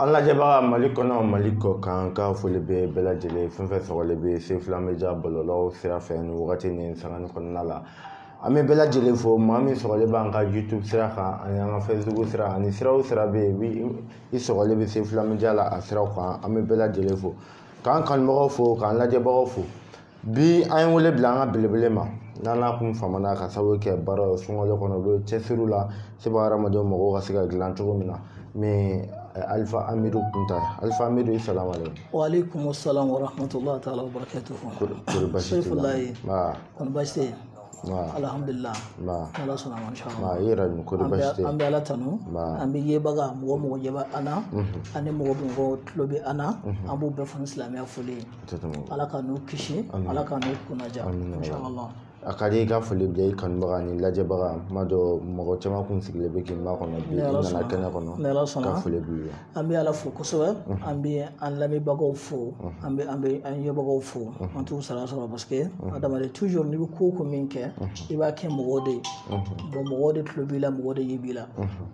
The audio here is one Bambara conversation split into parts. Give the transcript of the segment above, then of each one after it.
an lajɛbaga mali kɔnɔ mali kɔkan n ka foli bɛ bɛɛ lajɛlen fɛn o fɛn sɔgɔlen bɛ sefula media bɔlɔlɔw sira fɛ nin wagati nin sangani kɔnɔna la an bɛ bɛɛ lajɛlen fo maa min sɔgɔlen b'an ka youtube sira kan ani an ka facebook sira ani sira o sira bɛ yen i sɔgɔlen bɛ sefula media la a siraw kan an bɛ bɛɛ lajɛlen fo k'an kanubagaw fo k'an lajɛbagaw fo bi an ye wele bila an ka belebele ma n'an n'a kun famana ka sababu kɛ baara ye sunkalo kɔnɔ u bɛ cɛsiriw la seba hadamadenw mɔgɔw ka se ka dilan cogo min na min alifa amidu kunta alifa amidu i salam aleykum waaleykum salam warahmatullahi taala wabarakatuhu sefulahi kɔni basi tɛ yen alihamdulila ala sɔnna ma inshallah i yɛrɛ dun kɔni basi tɛ an bɛ ala tanu an b'an yebaga mɔgɔ o mɔgɔ ɲɛ bɛ an na ani mɔgɔ o mɔgɔ tulo bɛ an na an b'u bɛɛ fo ni silamɛya foli ye ala k'an n'u kisi ala k'an n'u kunnaja inshallah a ka di i ka foli bila i kanubaga ni lajɛbaga ma donc mɔgɔ caman kun sigilen bɛ k'i makɔnɔ bi i nana kɛnɛ kɔnɔ n ka foli b'i ye an bɛ ala fo kosɛbɛ an bɛ an lamɛnbagaw fo an bɛ an bɛ an yebagaw fo an t'u sara sɔrɔ parce que adamaden toujours n'i bɛ ko o ko min kɛ i b'a kɛ mɔgɔw de ye bon mɔgɔw de tulo b'i la mɔgɔw de ɲɛ b'i la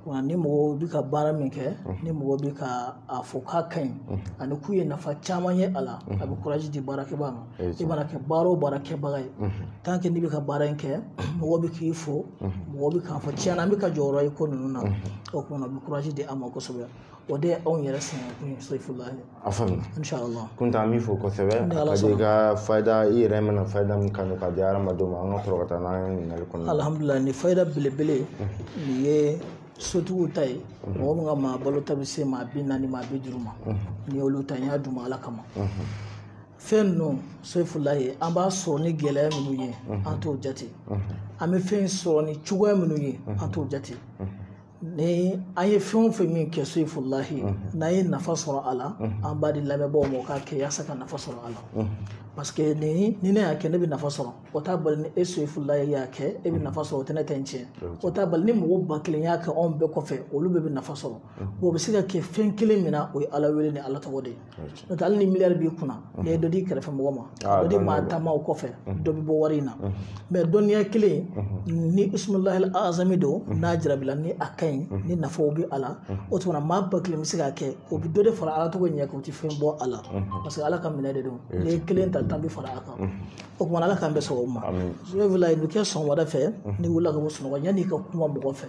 wa ni mɔgɔw bɛ ka baara min kɛ ni mɔgɔw bɛ ka a fɔ k'a ka ɲi ani k'u ye nafa caman ye a la a bɛ kuraji di baarakɛbaa ma i mana kɛ baara o baara kɛbaga ye tant que n'i bɛ ka baara in kɛ mɔgɔ bɛ k'i fo mɔgɔ bɛ k'a fɔ tiɲɛna an bɛ k'a jɔyɔrɔ ye ko ninnu na o kuma na o bɛ kurazi di an ma kosɛbɛ o de ye anw yɛrɛ sɛgɛn kun ye sefulahi a faamuya inshallah kunta an b'i fo kosɛbɛ a ka di i ka fayida i yɛrɛ mana fayida min kanu k'a di hadamadenw ma an ka sɔrɔ ka taa n'an ye ɲininkali kɔnɔ alhamdulillah ni fayida belebele nin ye sotigiw ta ye mɔgɔ min ka maa balota bɛ se maa bi naani maa bi duuru ma nin y'olu ta n y'a d'u ma ala kama fɛn ninnu sefulahi an b'a sɔrɔ ni gɛlɛya minnu ye an t'o jate an bɛ fɛn sɔrɔ ni cogoya minnu ye an t'o jate ni an ye fɛn o fɛn min kɛ sefulahi n'an ye nafa sɔrɔ a la an b'a di lamɛnbaaw ma u k'a kɛ yaasa ka nafa sɔrɔ a la parce que ni ni ne y'a kɛ ne bɛ nafa sɔrɔ o t'a bali ni e sefulahi y'a kɛ e bɛ nafa sɔrɔ o tɛ ne ta tiɲɛ o t'a bali ni mɔgɔ ba kelen y'a kɛ anw bɛɛ kɔfɛ olu bɛɛ bɛ nafa sɔrɔ o bɛ se ka kɛ fɛn kelen min na o ye ala wele ni ala tɔgɔ de ye n'o tɛ hali ni miliyari b'i kunna n'i ye dɔ di kɛrɛfɛ mɔgɔ ma dɔ di maa tan ma o kɔfɛ dɔ bɛ bɔ wari in na mais dɔnniya kelen ni ismulahi azami don n'a jarabila ni a ka ɲi ni nafaw bɛ a la o tuma na maa ba kelen bɛ se k'a kɛ o bɛ dɔ de fara ala tɔgɔ ɲɛ kan o tɛ fɛn bɔ a la parce que ala ka minɛ de don n'i ye kelen ta tan bɛ fara a kan o tuma ala k'an bɛɛ sɔn o ma sefulahi a bɛ kɛ sɔgɔmada fɛ n'i wulila ka bɔ sunɔgɔ yanni i ka kuma mɔgɔ fɛ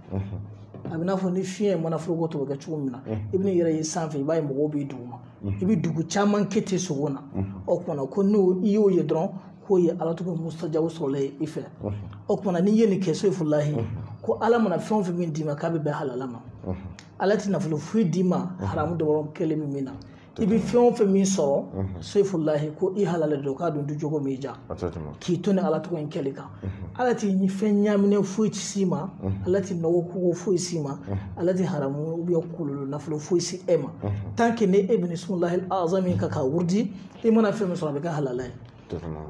a bɛ n'a fɔ ni fiɲɛ mana foroko tɔ bɛ kɛ cogo min na i bɛ n'i yɛrɛ ye sanfɛ i b'a ye mɔgɔw b'i duguma i bɛ dugu caman kɛ ten sogo na o kumana ko n'i y'o ye dɔrɔn k'o ye ala tɔgɔ mustajabu sɔrɔlen ye i fɛ o kumana n'i ye nin kɛ sefulahi ko ala mana fɛn o fɛn min d'i ma k'a bɛ bɛn halala ma ala tɛ nafolo foyi d'i ma haramu dɔrɔmɛ kelen bɛ min na i bɛ fɛn o fɛn min sɔrɔ sefulahi ko i halala don k'a dun du cogo min ja k'i to ni ala tɔgɔ in kɛli kan ala tɛ fɛn ɲaaminen foyi tɛ s'i ma ala tɛ nɔgɔ ko foyi s'i ma ala tɛ haramu ubiyɛn kɔlɔlɔ nafolo foyi se e ma tanke ni e bɛ nin isimulahi lazamu kan k'a wurudi i mana fɛn min sɔrɔ a bɛ kɛ halala ye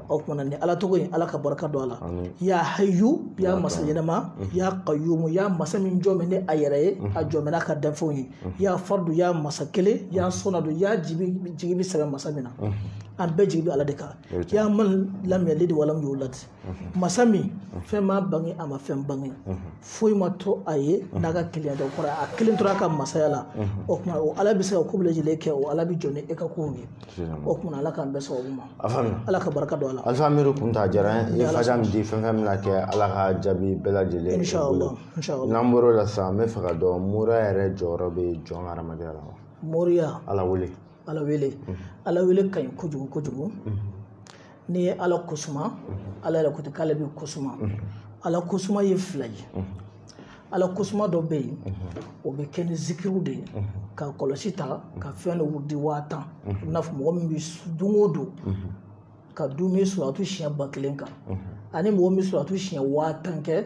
o kumana ni ala tɔgɔ in ala ka barika don a la ya hayu ya masa ɲɛnama ya qayumu ya masa min jɔlen bɛ ni a yɛrɛ ye a jɔlen bɛ n'a ka danfɛnw ye ya fardu ya masa kelen ya samadu ya jigi bɛ sɛmɛ masa min na an bɛɛ jigi bɛ ala de kan ya man lam yalid wa lam yulad masa min fɛn ma bange a ma fɛn bange foyi ma to a ye n'a ka kelenya tɛ kɔrɔ a kelen tor'a ka masaya la o tuma o ala bɛ se ka ko bɛɛ lajɛlen kɛ o ala bɛ jɔ ni e ka kow ye o kumana ala k'an bɛɛ sababu ma ala ka barika don a la alifa miiri kunta jara n ye faja min di fɛn fɛn bɛna kɛ ala ka jaabi bɛɛ lajɛlen n'an bɔr'o la sisan n bɛ fɛ ka dɔn moriya yɛrɛ jɔyɔrɔ bɛ jɔn hadamadenya la wa moriya ala wele ala wele ala wele ka ɲi kojugu kojugu n'i ye ala kosuma ala yɛrɛ ko ten k'ale bɛ kosuma ala kosuma ye fila ye ala kosuma dɔ bɛ yen o bɛ kɛ ni zikiriw de ye ka kɔlɔsi ta ka fɛn dɔ wurudi waa tan i n'a fɔ mɔgɔ min bɛ don o don ka duumɛ suratu siɲɛ ba kelen kan ani mɔgɔ min bɛ suratu siɲɛ waa tan kɛ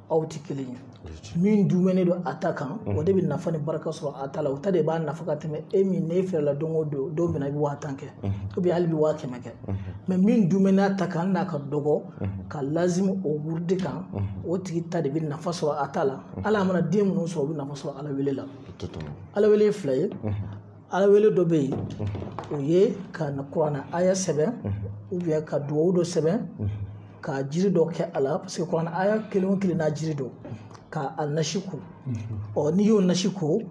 aw tɛ kelen ye min duumɛnen don a ta kan o de bɛ nafa ni barika sɔrɔ a ta la o ta de b'a nafa ka tɛmɛ e min n'e fɛrɛla don o don don min i bɛ waa tan kɛ ubiyɛn hali i bɛ waa kɛmɛ kɛ mɛ min duumɛnen a ta kan n'a ka dɔgɔ ka lazimu o wurudi kan o tigi ta de bɛ nafa sɔrɔ a ta la ala mana den minnu sɔrɔ o bɛ nafa sɔrɔ ala wele la ala wele fila ye ala wele dɔ bɛ yen o ye ka kuranna aya sɛbɛn ubiyɛn ka duwawu dɔ sɛbɛn ka jiri dɔ kɛ a la paseke kuranna aya kelen o kelen n'a jiri don ka a nasi ko ɔ n'i y'o nasi ko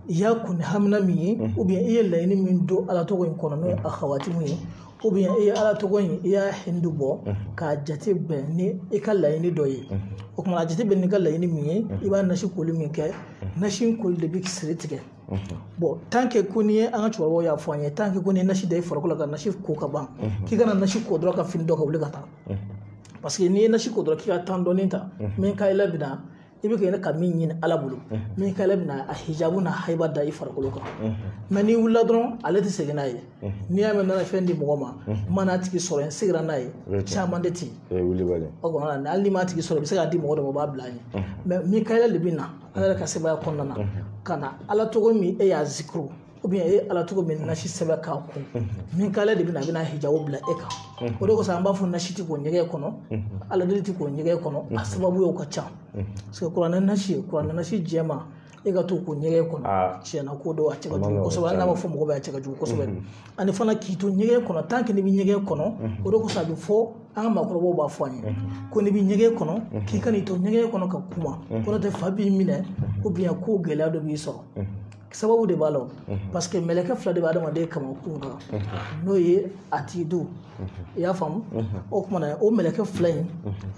i y'a kun ni hamina min ye ubiyɛn i ye laɲini min don ala tɔgɔ in kɔnɔ n'o ye a hawatimu ye ubiyɛn i ye ala tɔgɔ in i y'a hindu bɔ k'a jate bɛn ni i ka laɲini dɔ ye o kumana a jate bɛn n'i ka laɲini min ye i b'a nasi koli min kɛ nasi in koli de bɛ siri tigɛ bon tant que ko n'i ye an ka cɛkɔrɔbaw y'a fɔ an ye tant que ko n'i ye nasi da i farikolo kan nasi ko ka ban k'i kana nasi ko dɔrɔn ka fini don ka wuli ka taa parce que n'i ye nasi ko dɔrɔn k'i ka temps dɔɔni ta mikayila bina i bɛ kɛ ka min ɲini ala bolo mikayila bina a hijabu n'a haiba da i farikolo kan mais n'i wulila dɔrɔn ale tɛ segin n'a ye n'i y'a mɛn nana fɛn di mɔgɔ ma n ma n'a tigi sɔrɔ n seginna n'a ye caman de ten o kɔnɔna na hali n'i m'a tigi sɔrɔ i bɛ se k'a di mɔgɔ dɔ ma o b'a bila a ye mais mikayila de bɛ na ala yɛrɛ ka sebaya kɔnɔna na ka na ala tɔgɔ min e y'a zikuru ou bien e ye ala tɔgɔ min nasi sɛbɛn k'a ko mikayila de bɛ na a bɛna hijabu bila e kan o de kosɔn an b'a fɔ nasi ti ko ɲɛgɛn kɔnɔ ala deli ti ko ɲɛgɛn kɔnɔ a sababu ye o ka ca parce que kuranɛ nasi kuranɛ nasi jɛma e ka t'o ko ɲɛgɛn kɔnɔ tiɲɛ na ko dɔw a cɛ ka jugu kosɛbɛ hali n'a ma fɔ mɔgɔ bɛ a cɛ ka jugu kosɛbɛ ani fana k'i to ɲɛgɛn kɔnɔ tant que n'i bɛ ɲɛgɛn kɔnɔ o de kosɔn a bɛ fɔ an ka maakɔrɔbaw b'a fɔ an ye ko n'i bɛ ɲɛgɛn kɔnɔ k'i kan'i to ɲɛgɛn kɔnɔ ka kuma ko n'o tɛ fa b'i minɛ ou bien ko gɛlɛya dɔ b'i sɔrɔ sababu de b'a la parce que mɛlɛkɛ fila de bɛ adamaden kamankun kan n'o ye atidu i y'a faamu o kumana o mɛlɛkɛ fila in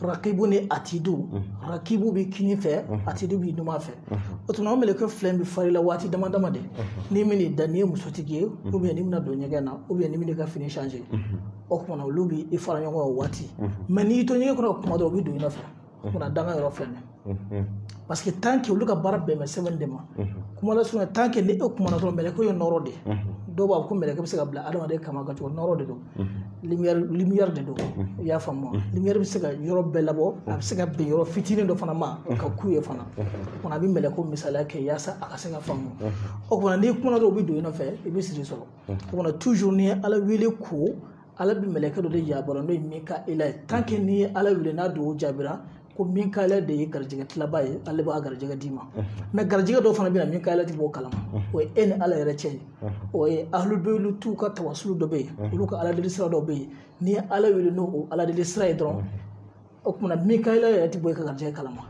rakibu ni atidu rakibu bɛ kini fɛ atidu bɛ numan fɛ o tuma o mɛlɛkɛ fila in bɛ far'i la waati dama dama de n'i bɛn'i da n'i ye musotigi ye ou bien n'i bɛna don ɲɛgɛn na ou bien n'i bɛna i ka fini changer o kumana olu bɛ i fara ɲɔgɔn kan o waati mais n'i y'i to ɲɛgɛn kɔnɔ ka kuma dɔrɔn u bɛ don i nɔfɛ Kuma danga yɔrɔ filɛ nin ye parce que tant que olu ka baara bɛnnen bɛ sɛbɛnni de ma kuma lasurunya tant que ni e kumana dɔrɔn mɛlɛkɛ ye nɔrɔ de ye dɔw b'a fɔ ko mɛlɛkɛ bɛ se ka bila adamaden kaman kan cogo nɔrɔ de don lumière lumière de don i y'a faamu lumière bɛ se ka yɔrɔ bɛɛ labɔ a bɛ se ka bɛn yɔrɔ fitinin dɔ fana ma ka kun yen fana o a bɛ mɛlɛkɛw misaliya kɛ yaasa a ka se k'a faamu o kumana n'i kumana dɔrɔn u bɛ don i nɔfɛ i bɛ siri sɔrɔ o kumana toujours n'i ye ala wele ko ala bɛ mɛlɛkɛ dɔ de yamari n'o ye mikayila ye tant que n'i ye ala wele n'a dugawu jaabira ko mikayila de ye garijɛgɛ tilabaa ye ale b'a garijɛgɛ d'i ma mais garijɛgɛ dɔw fana bɛ na mikayila ti b'o kalama o ye e ni ala yɛrɛ cɛ ye o ye ahlul baytu ka tawasulu dɔ bɛ yen olu ka aladeli sira dɔ bɛ yen n'i ye ala wele n'o o aladeli sira ye dɔrɔn o kumana mikayila yɛrɛ tɛ bɔ i ka garijɛ kalama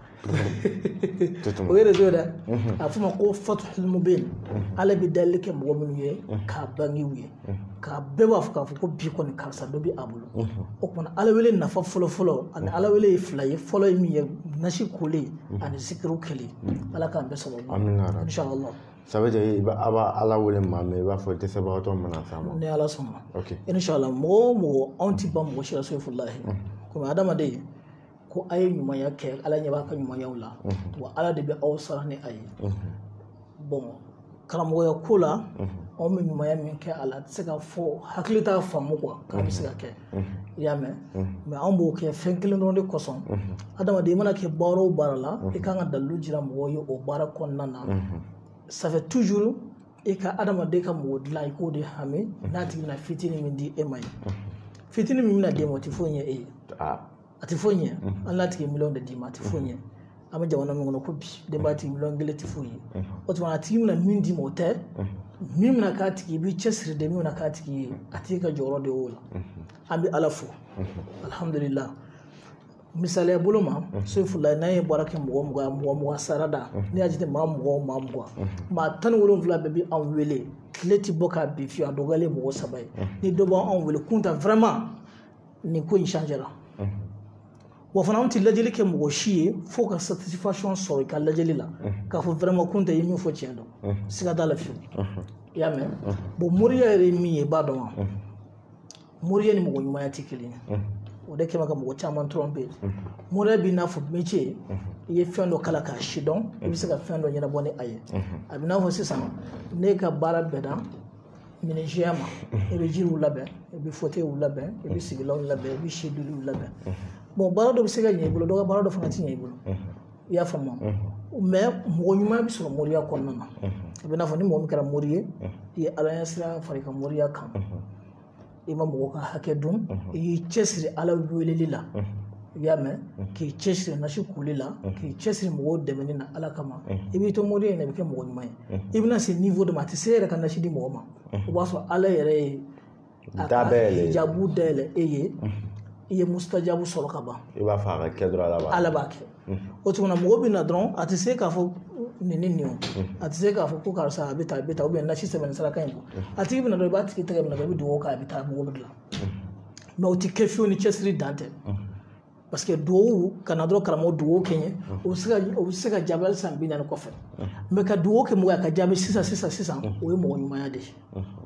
o yɛrɛ t'o dɔn mhm. a f'o ma ko fatihul mubin mhm. ala bɛ dali kɛ mɔgɔ minnu ye mhm. k'a bange u ye k'a bɛɛ b'a fɔ k'a fɔ ko bi kɔni karisa dɔ bɛ a bolo o kumana ala wele nafa fɔlɔ fɔlɔ ani ala wele ye fila ye fɔlɔ ye min ye nasi koli ani zikuru kɛli ala k'an bɛɛ sɔrɔ inshallah ça veut dire a b'a ala wele maa min i b'a fɔ dɛsɛbagatɔ mana s'a ma ni ala sɔnna okay. inshallah mɔgɔ o mɔgɔ anw ti ban mɔgɔ si la sofulahi mm. komi adamaden ko a ye ɲumanya kɛ ala ɲɛ b'a ka ɲumanyaw la mm-hmm. wa ala de bɛ aw sara ni a ye mm-hmm. bon karamɔgɔya ko la mm-hmm. anw bɛ ɲumanya min kɛ a la a tɛ se ka fɔ hakili t'a faamu ko k'a bɛ se ka kɛ i y'a mɛn mais anw b'o kɛ fɛn kelen dɔrɔn de kosɔn adamaden i mana kɛ baara o baara la i kan ka dalilu jira mɔgɔw ye o baara kɔnɔna na ça fait toujours i ka adamaden ka mɔgɔ dilan i k'o de hami n'a tigi bɛna fitinin min di e ma ye fitinin min bɛna d'e ma o tɛ foyi ɲɛ e ye a tɛ foyi ɲɛ hali n'a tigi miliyɔn de d'i ma a tɛ foyi ɲɛ an bɛ jamana min kɔnɔ ko bi denbaya tigi miliyɔn kelen tɛ foyi ye o tuma a tigi bɛna min d'i ma o tɛ min bɛna k'a tigi i b'i cɛsiri de min bɛna k'a tigi ye a tigi ka jɔyɔrɔ de y'o la an bɛ ala fo alihamudulila misaliya bolo ma sefula n'an ye baara kɛ mɔgɔ mugan mɔgɔ mugan sara da n'i y'a jate maa mugan o maa mugan maa tan ni wolonwula bɛɛ bɛ anw wele tile tɛ bɔ ka bin fiyewu a dɔgɔyalen mɔgɔ saba ye ni dɔ b'anw wele kunta nin ko in changé la wa fana anw tɛ lajɛli kɛ mɔgɔ si ye fo ka satisfaction sɔrɔ i ka lajɛli la k'a fɔ vraiment kunta ye min fɔ tiɲɛ don siga t'a la fiyewu i y'a mɛn bon moriya yɛrɛ ye min ye i b'a dɔn wa moriya ni mɔgɔ ɲumanya tɛ kelen ye o de kama ka mɔgɔ caman tromper moriya b'i n'a fɔ métier i ye fɛn dɔ kalan k'a sidɔn i bɛ se ka fɛn dɔ ɲɛnabɔ ni a ye a bɛ n'a fɔ sisan ne ka baara bɛ dan menuisierya ma i bɛ jiriw labɛn i bɛ fauteuilw labɛn i bɛ sigilanw labɛn i bɛ sediliw labɛn bon baara dɔ bɛ se ka ɲɛ i bolo dɔ ka baara dɔ fana tɛ ɲɛ i bolo i y'a faamu mais mɔgɔ ɲuman bɛ sɔrɔ moriya kɔnɔna na a bɛ n'a fɔ ni mɔgɔ min kɛra mori ye i ye ala ɲɛsiran fara i ka moriya kan i ma mɔgɔ ka hakɛ dun i y'i cɛsiri ala weleli la i y'a mɛn k'i cɛsiri nasi kuli la k'i cɛsiri mɔgɔw dɛmɛni na ala kama i b'i to mori ye i bɛ kɛ mɔgɔ ɲuman ye i bɛna se niveau dɔ ma a tɛ se e yɛrɛ ka nasi di mɔgɔ ma o b'a sɔrɔ ala yɛrɛ ye jabu dayɛlɛ e ye i ye musitajabu sɔrɔ ka ban i b'a fɔ a ka kɛ dɔrɔn ala b'a kɛ o tuma mɔgɔ bɛ na dɔrɔn a tɛ se k'a fɔ nin ni nin a tɛ se k'a fɔ ko karisa a bɛ taa a bɛ taa nasi sɛbɛn saraka in a tigi bɛ na dɔrɔn i b'a tigi tɛgɛ minɛ i bɛ dugawu k'a bɛ taa mɔgɔ bɛ dilan mais o tɛ kɛ fiyewu ni cɛsiri dan tɛ parce que duwawu kana dɔrɔn karamɔgɔ duwawu kɛ n ye o bɛ se ka o bɛ se ka jaabi hali san bi naani kɔfɛ mais ka duwawu kɛ mɔgɔ ye a ka jaabi sisan sisan sisan o ye mɔgɔ ɲumanya de ye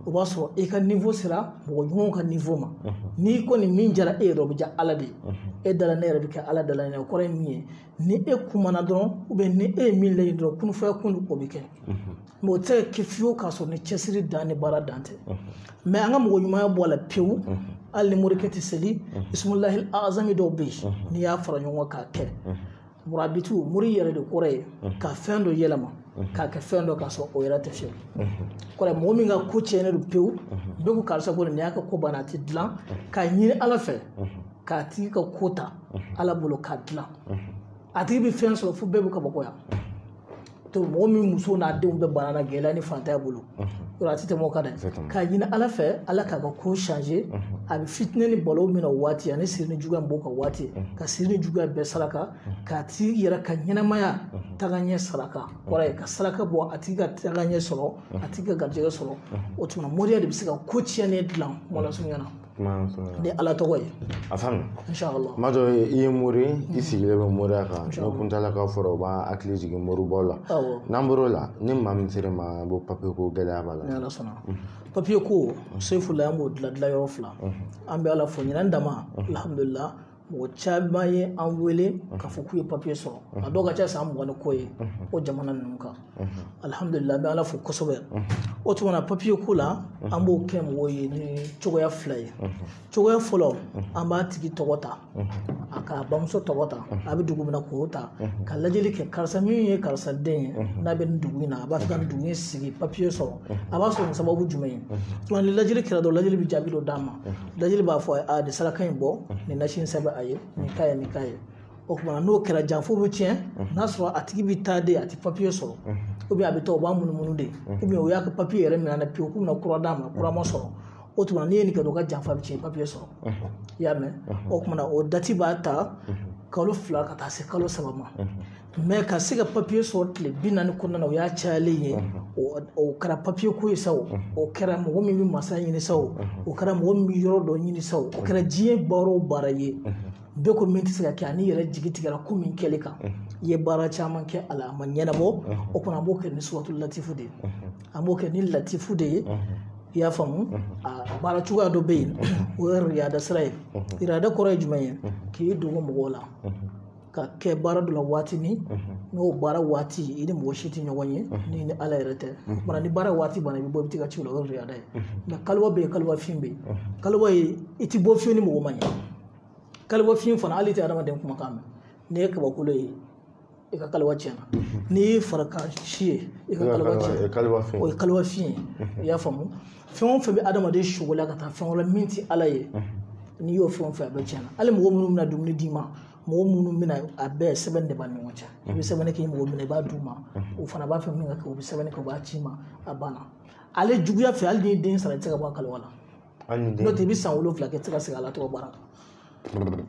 o b'a sɔrɔ i ka niveau sera mɔgɔ ɲumanw ka niveau ma n'i kɔni min diyara e yɛrɛ o bɛ diya ala de ye e da la nɛn yɛrɛ bɛ kɛ ala da la nɛn o kɔrɔ ye min ye ni e kumana dɔrɔn ou bien ni e ye min laɲini dɔrɔn kun fayakun o bɛ kɛ mais o tɛ se ka kɛ fiyewu k'a sɔrɔ ni cɛsiri dan ni baara dan tɛ mais an ka mɔgɔ ɲumanya bɔ a la pewu hali ni morikɛ tɛ seli isumulahi azami dɔw bɛ yen n'i y'a fara ɲɔgɔn kan k'a kɛ murabitu mori yɛrɛ de kɔrɔ ye ka fɛn dɔ yɛlɛma k'a kɛ fɛn dɔ k'a sɔrɔ o yɛrɛ tɛ fiyewu kɔrɔ mɔgɔ min ka ko tiɲɛnen don pewu bɛɛ ko karisa ko nin y'a ka ko banna a tɛ dilan k'a ɲini ala fɛ k'a tigi ka ko ta ala bolo k'a dilan a tigi bɛ fɛn sɔrɔ fo bɛɛ bɛ kabakoya to mɔgɔ min muso n'a denw bɛɛ banana gɛlɛya ni fantanya bolo yɔrɔ a tɛ tɛmɛ o kan dɛ k'a ɲini ala fɛ ala k'a ka ko changer a bɛ fitinɛ ni balawu min na o waati ani siri ni juguya b'o ka waati ka siri ni juguya bɛɛ saraka k'a tigi yɛrɛ ka ɲɛnamaya taga ɲɛ saraka kɔrɔ ye ka saraka bɔ a tigi ka taga ɲɛ sɔrɔ a tigi ka garijɛgɛ sɔrɔ o tuma moriya de bɛ se ka ko tiɲɛnen dilan mɔlasurunya na ni ala tɔgɔ ye a faamu inshallah maa dɔ i ye mori i sigilen bɛ moriya kan n'o kuntala ka fɔra o b'an hakili jigin moribaw la n'an bɔr'o la ni maa min sera ma bɔ papiye ko gɛlɛya b'a la ni ala sɔnna papiye ko sugu fila an b'o dilan dilan cogo fila an bɛ ala fo ɲinan dama alhamdulilayi mɔgɔ caman ye an wele k'a fɔ k'u ye papiye sɔrɔ a dɔw ka ca san mugan ni kɔ ye o jamana ninnu kan alihamudulila an bɛ ala fo kosɛbɛ o tuma na papiye ko la an b'o kɛ mɔgɔw ye ni cogoya fila ye cogoya fɔlɔ an b'a tigi tɔgɔ ta a k'a bamuso tɔgɔ ta a bɛ dugu min na k'o ta ka lajɛli kɛ karisa min ye karisa den ye n'a bɛ nin dugu in na a b'a fɛ ka nin dugu in sigi papiye sɔrɔ a b'a sɔrɔ ni sababu jumɛn ye tuma ni lajɛli kɛra dɔrɔn lajɛli bɛ jaabi dɔ d'a ma lajɛli b'a fɔ a nin saraka in bɔ nin nasi in sɛbɛn a ye nin k'a ye nin k'a ye o tuma na n'o kɛra janfa bɛ tiɲɛ n'a sɔrɔ a tigi bɛ taa de a tɛ papiye sɔrɔ ou bien a bɛ taa o b'a munumunu de ou bien o y'a ka papiye yɛrɛ minɛ na pewu k'u bɛna kura d'a ma kura ma sɔrɔ o tuma n'i ye nin kɛ dɔrɔn ka janfa bɛ tiɲɛ papiye sɔrɔ i y'a mɛn o tuma na o dati b'a ta kalo fila ka taa se kalo saba ma mɛ ka se ka papiye sɔrɔ tile bi naani kɔnɔna na o y'a cayalen ye o kɛra papiye ko ye sa o o kɛra mɔgɔ min bɛ masa ɲini sa o o kɛra mɔgɔ min bɛ yɔrɔ dɔ ɲini sa o kɛra diɲɛ baara o baara ye bɛɛ ko min tɛ se ka kɛ an'i yɛrɛ jigi tigɛra ko min kɛli kan i ye baara caman kɛ a la a ma ɲɛnabɔ o kɔnɔ an b'o kɛ ni suratu latifu de ye an b'o kɛ ni latifu de ye i y'a faamu a baara cogoya dɔ bɛ yen o ye riyada sira ye riyada kɔrɔ ye jumɛn ye k'i dogo mɔgɔw la ka kɛ baara dɔ la waati min n'o baara waati i ni mɔgɔ si tɛ ɲɔgɔn ye ni ni ala yɛrɛ tɛ bara ni baara waati banna i bɛ bɔ i bɛ taa i ka ci la o ye riyada ye nka kaliwa bɛ yen kaliwa fin bɛ yen kaliwa ye i tɛ bɔ fiyewu ni mɔgɔ ma ɲɛ kaliwa fin fana hali i tɛ adamaden kumakan mɛn n'i ye kabakolo ye i ka kaliwa tiɲɛna n'i ye farikan si ye i ka kaliwa tiɲɛna o ye kaliwa fin ye i y'a faamu fɛn o fɛn bɛ adamaden sogo la ka taa fɛn wɛrɛ min tɛ ala ye n'i y'o fɛn o fɛn a bɛɛ tiɲɛna hali mɔgɔ minnu bɛna dumuni d'i ma mɔgɔ minnu bɛna a bɛɛ sɛbɛn de b'aw ni ɲɔgɔn cɛ i bɛ sɛbɛnni k'i mago bɛ min na i b'a d'u ma o fana b'a fɛ min ka kɛ u bɛ sɛbɛnni kɛ u b'a ci i ma a banna ale juguya fɛ hali n'i den sara i tɛ se ka bɔ a kaliwa la n'o tɛ i bɛ san wolonwula kɛ i tɛ se ka segin ala tɔgɔ baara kan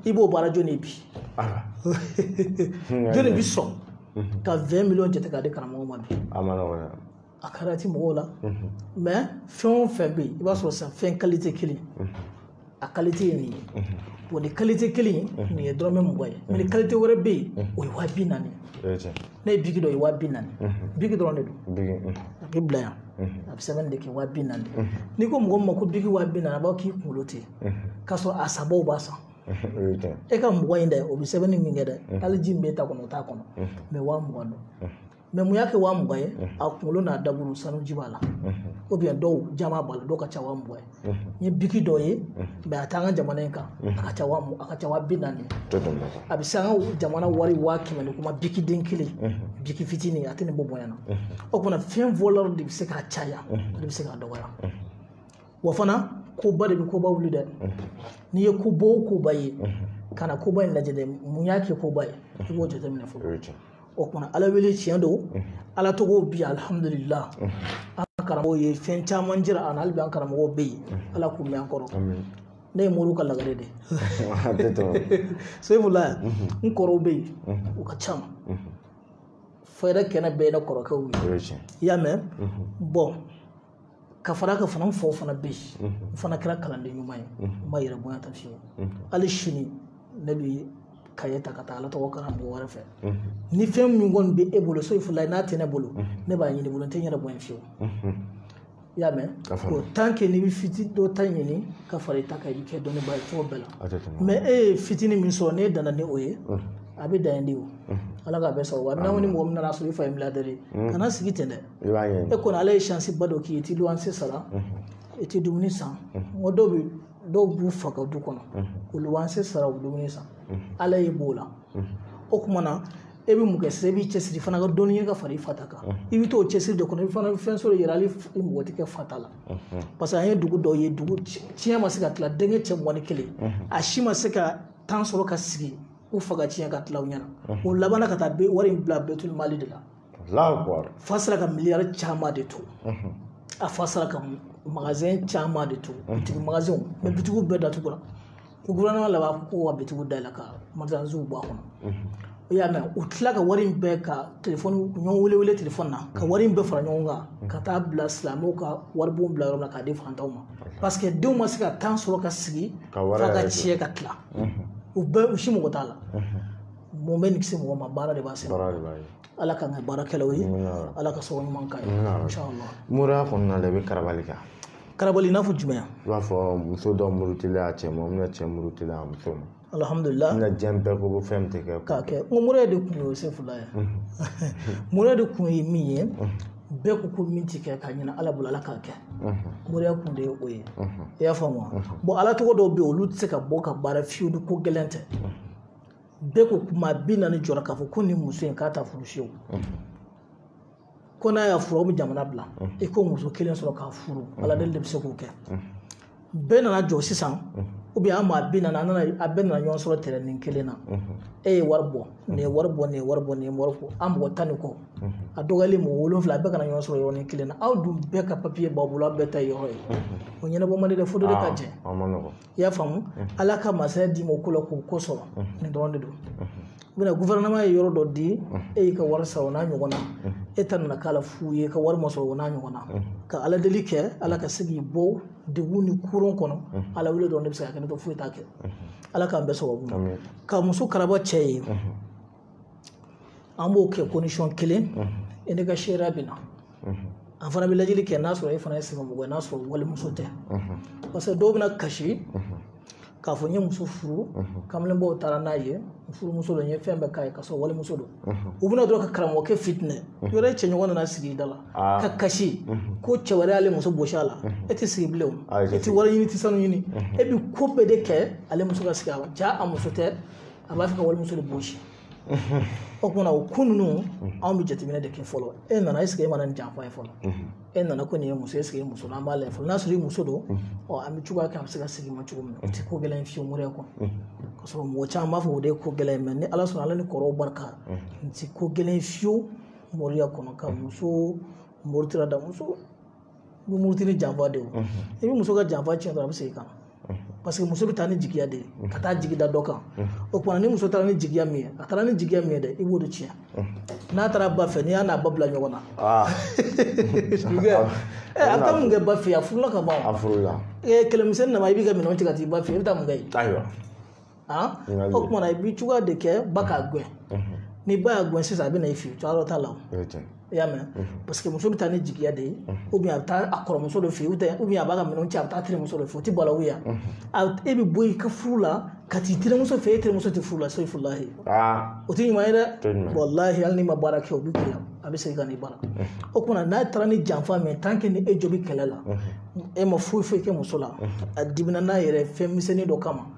i b'o baara jɔni bi jɔni bi sɔn ka 20 miliyɔn jate k'a di karamɔgɔ ma bi a kɛra ti mɔgɔw la mɛ fɛn o fɛn bɛ yen i b'a sɔrɔ sisan fɛn kalite kelen a kalite ye nin ye o ni kalite kelen nin ye dɔrɔmɛ mugan ye mɛ ni kalite wɛrɛ bɛ yen o ye waa bi naani ne ye biki dɔ ye waa bi naani biki dɔrɔn de don a bɛ bila yan a bɛ sɛbɛnni de kɛ waa bi naani n'i ko mɔgɔ min ma ko biki waa bi naani a b'a k'i kunkolo ten k'a sɔrɔ a sanbaw b'a san e ka mugan in dɛ o bɛ sɛbɛnni min kɛ dɛ hali ji min b'e ta kɔnɔ o t'a kɔnɔ mɛ waa mugan don mɛ mun y'a kɛ waa mugan ye a kunkolo n'a daburu sanuji b'a la ou bien dɔw jaman b'a la dɔw ka ca waa mugan ye n ye biki dɔ ye mɛ a t'an ka jamana in kan a ka ca a ka ca waa bi naani a bɛ se an ka jamana wari waa kɛmɛ ni kuma biki den kelen biki fitinin a tɛ nin bɔ bonya na o kuma na fɛn valeur de bɛ se k'a caya o de bɛ se k'a dɔgɔya wa fana koba de bɛ koba wuli dɛ n'i ye koba o koba ye kana koba in lajɛ dɛ mun y'a kɛ koba ye i b'o jateminɛ fɔlɔ o kuma na ala wele tiɲɛ don ala tɔgɔw bi alihamudulila an karamɔgɔw ye fɛn caman jira an na hali bi an karamɔgɔw bɛ yen ala k'u mɛn an kɔrɔ ne ye moriw ka lagare de sefula yan n kɔrɔw bɛ yen u ka ca fayida kɛnɛ bɛɛ ye ne kɔrɔkɛw ye i y'a mɛn bɔn ka fara ka fana fɔ fana bɛ yen n fana kɛra kalanden ɲuman ye n ma yɛrɛ bonya ta fiyewu hali sini ne bɛ kaye ta ka taa ala tɔgɔ karamɔgɔ wɛrɛ fɛ ni fɛn min kɔni bɛ e bolo sefula n'a tɛ ne bolo ne b'a ɲini i bolo n tɛ n yɛrɛ bonya fiyewu i y'a mɛn o tant que n'i bɛ fitinin dɔ ta ɲini ka fara i ta kan i bɛ kɛ dɔnnibaa ye cogo bɛɛ la mɛ e ye fitinin min sɔrɔ n'e danna ni o ye a bɛ dan yen de o ala k'a bɛɛ sɔrɔ wa n'aw ni mɔgɔ min nana sɔrɔ i fa ye milliardaire ye kana sigi ten dɛ i b'a ye e kɔni ala ye shansi ba dɔ k'i ye i ti luwanse sara i ti dumuni san n ko dɔw bɛ dɔw b'u fa ka du kɔnɔ k'u luwanse sara u dumuni san ala y'e b'o la o kuma na e bɛ mun kɛ sisan i b'i cɛsiri fana ka dɔnni ɲini ka fara i fa ta kan i bɛ t'o cɛsiri de kɔnɔ i fana bɛ fɛn sɔrɔ yɛrɛ hali i mako tɛ kɛ fa ta la parce que an ye dugu dɔw ye dugu tiɲɛ ma se ka tila denkɛ cɛ mugan ni kelen a si ma se ka tan sɔrɔ ka sigi u fa ka tiɲɛ ka tila u ɲɛna o labanna ka taa wari in bila baitul mali de la fa sera ka miliyari caman de to a fa sera ka magazɛn caman de to bitigi magazɛnw mɛ bitigiw bɛɛ datugura ko gouvernement laban ko ka bitigiw dayɛlɛ ka magazinw bɔ a kɔnɔ i y'a mɛn u tila ka wari in bɛɛ ka telefɔni ɲɔgɔn wele wele telefɔni na ka wari in bɛɛ fara ɲɔgɔn kan ka taa bila silamɛw ka waribon bila yɔrɔ la k'a di fantanw ma parce que denw ma se ka tan sɔrɔ ka sigi fa ka tiɲɛ ka tila u bɛɛ u si mako t'a la mun bɛ nin kisi mɔgɔ ma baara de b'a se baara de b'a ye ala k'an kɛ baarakɛlaw ye ala ka sɔrɔ ɲuman k'a ye moriya kɔnɔna la i bɛ karabali kan karabali i n'a fɔ jumɛn i b'a fɔ muso dɔ murutilen a cɛ ma ou bien cɛ murutilen a muso ma alihamudulila n ka diɲɛ bɛɛ ko fɛn tɛ kɛ k'a kɛ n ko moriya de kun ye sefula ye moriya de kun ye min ye bɛɛ ko ko min tɛ kɛ k'a ɲini ala bolo ala k'a kɛ moriya kun de ye o ye i y'a faamu wa bon ala tɔgɔ dɔw bɛ yen olu tɛ se ka bɔ ka baara fiyewu ni ko gɛlɛn tɛ bɛɛ ko kuma bi naani jɔra k'a fɔ ko nin muso in k'a t'a furu fiyewu ko n'a y'a furu aw bɛ jamana bila i ko muso kelen sɔrɔ k'a furu ala deli de bɛ se k'o kɛ bɛɛ nana jɔ sisan ou bien an maa bi naani an nana a bɛɛ nana ɲɔgɔn sɔrɔ tɛrɛnin kelen na e ye wari bɔ nin ye wari bɔ nin ye wari bɔ nin ye wari bɔ an mɔgɔ tan ni kɔ a dɔgɔyalen mɔgɔ wolonfila a bɛɛ ka na ɲɔgɔn sɔrɔ yɔrɔnin kelen na aw dun bɛɛ ka papiye b'aw bolo aw bɛɛ ta ye yɔrɔ ye o ɲɛnabɔ man di dɛ fo dɔ de ka jɛ i y'a faamu ala ka masaya d'i ma o ko la k'o ko sɔrɔ nin dɔrɔn de don ou bien gufɛrɛnaman ye yɔrɔ dɔ di e y'i ka wari sara o n'a ɲɔgɔn na e ta nana k'a la fu ye ka wari ma sɔrɔ o n'a ɲɔgɔn na ka ala deli kɛ ala ka se k'i bɔ degun ni koron kɔnɔ ala wele dɔrɔn de bɛ se k'a kɛ n'o tɛ foyi t'a kɛ ala k'an bɛɛ sababu ma ka muso karaba cɛ ye an b'o kɛ condition kelen e n'e ka seereya bɛ na an fana bɛ lajɛli kɛ n'a sɔrɔ e fana ye sɛbɛmɔgɔ ye n'a sɔrɔ walimuso tɛ parce que dɔw bɛna kasi k'a fɔ n ye muso furu kamalenbaw taara n'a ye furumuso don n ye fɛn bɛɛ k'a ye k'a sɔrɔ walimuso don u bɛ na dɔrɔn ka karamɔgɔkɛ fitinɛ yɔrɔ e cɛɲɔgɔn nana sigi i da la ka kasi ko cɛ wɛrɛ y'ale muso bosi a la e tɛ sigi bilen o e tɛ wari ɲini i tɛ sanu ɲini e bɛ ko bɛɛ de kɛ ale muso ka sigi a la jaa a muso tɛ a b'a fɛ ka walimuso de bosi o kumana o ko ninnu anw bɛ jateminɛ de kɛ fɔlɔ e nana eseke e ma na ni janfa ye fɔlɔ e nana ko nin ye muso eseke e muso an b'a lajɛ fɔlɔ n'a sɔrɔ i muso don ɔ an bɛ cogoya kɛ a bɛ se ka segin i ma cogo min na o tɛ ko gɛlɛn fiyewu moriya kɔnɔ ka sɔrɔ mɔgɔ caman b'a fɔ o de ye ko gɛlɛn mɛ ni ala sɔnna ala ni kɔrɔw barika n tɛ ko gɛlɛn fiyewu moriya kɔnɔ ka muso murutira da muso bɛ muruti ni janfa de ye i bɛ muso ka janfa tiɲɛ dɔrɔn a bɛ segin ka na paseke muso bɛ taa ni jigiya de ye ka taa jigi da dɔ kan o kumana ni muso taara ni jigiya min ye a taara ni jigiya min ye dɛ i b'o de tiɲɛ n'a taara ba fɛ n'i y'a n'a ba bila ɲɔgɔn na a bɛ taa mun kɛ ba fɛ yen a furula ka ban a furula kɛlɛmisɛnnin nana i b'i ka minɛnw cɛ ka t'i ba fɛ yen i bɛ taa mun kɛ yen ayiwa o kumana i bɛ cogoya de kɛ ba k'a gɛn ni ba y'a gɛn sisan a bɛ na i fɛ yen cogoya t'a la i y'a mɛn parce que muso bɛ taa ni jigiya de ye a bɛ taa a kɔrɔmuso de fɛ yen a b'a ka minɛnw cɛ a bɛ taa terimuso de fɛ yen o tɛ maloya e bɛ bɔ i ka furu la ka t'i terimuso fɛ e terimuso tɛ furu la safurulayi o tɛ ɲuman ye dɛ walahi hali n'i ma baara kɛ o bɛ gɛlɛya a bɛ segin ka n'i bara o kumana n'a taara ni janfa min ye ni e jo bɛ kɛlɛ la e ma foyi foyi kɛ muso la a dimina n'a yɛrɛ fɛn misɛnnin dɔ kama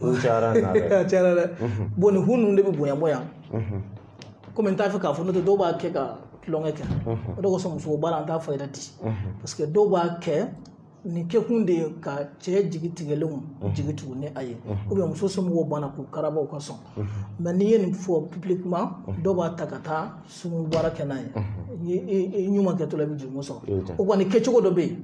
o cayara n'a bɛɛ a cayara dɛ bɔn nin hu ninnu de bɛ bonya bɔ yan komi n t'a fɛ k'a fɔ n'o tɛ dɔw b'a kɛ ka tulonkɛ kɛ o de kosɔn muso baara an t'a fɔ yɛrɛ di parce que dɔw b'a kɛ nin kɛkun de ye ka cɛ jigi tigɛlenw jigi tugu ni a ye ou bien muso somɔgɔw banna k'u karabaw ka sɔn mais n'i ye nin fɔ publiquement dɔw b'a ta ka taa sumu baara kɛ n'a ye ɲuman kɛtɔla i bɛ jurumu sɔrɔ o kɔni kɛcogo dɔ bɛ yen